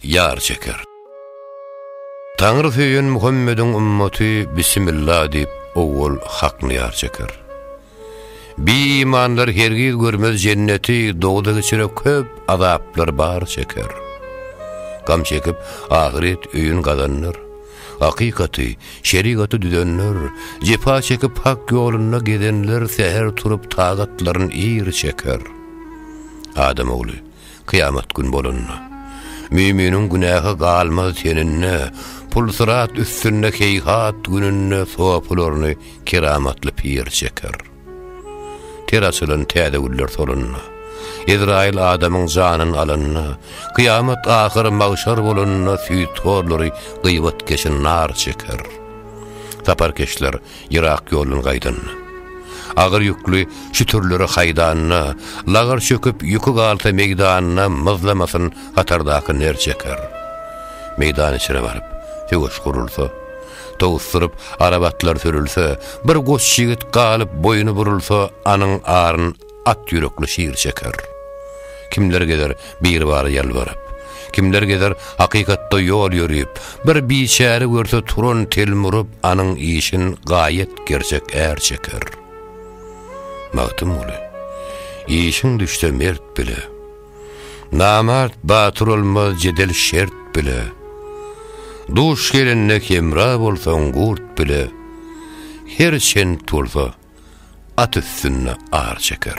Ýar çeker. Taňry söýen Muhammediň ümmaty Bismilla diýip owwal Hakny ýar çeker. Bi imanlar hergiz görmez jenneti dogda geçire köp azaplar bar çeker. Gam çekip ahyret öýün gazanlar. Hakykaty, şerigaty düzenler, jepa çekip hak ýolunda gezenler säher turup tagatlaryn ir çeker. Adam ogly, Kyýamat gün bolanda, müýminiň günäsi galmaz teninde, pul-syrat üstünde heýhat gününde sopularyny keramatly pir çeker. Ter açylan täze güller solanda, Ezraýyl adamyň janyny alanda, kyýamat ahyr magşar bolanda süýthorlary gyýwatkeşi nar çeker. Saparkeşler Yrak ýoldan gaýdan. Agyr ýükli şütürleri haýdanyna, Lagar çöküp ýüki galsa meýdanyna Myzlamasyn hatardaky ner çeker. Meýdan içre baryp, söweş gurulsa, Towusdyryp arap atlar sürülse, Bir goç ýigit galyp boýny burulsa, Anyň aryn At ýürekli şir çeker. Kimler gezer Birbara ýalbaryp. Kimler gezer hakykatda ýol ýörüp. Bir biçäre görse turan telmuryp anyň işin gaýet gerçek är çeker. Magtymguly. Işiň düşse mert bile. Namart batyr olmaz jedel şert bile. Duş gelende hemra bolsaň gurt bile. Her çent bolsa at üstünde ar çeker.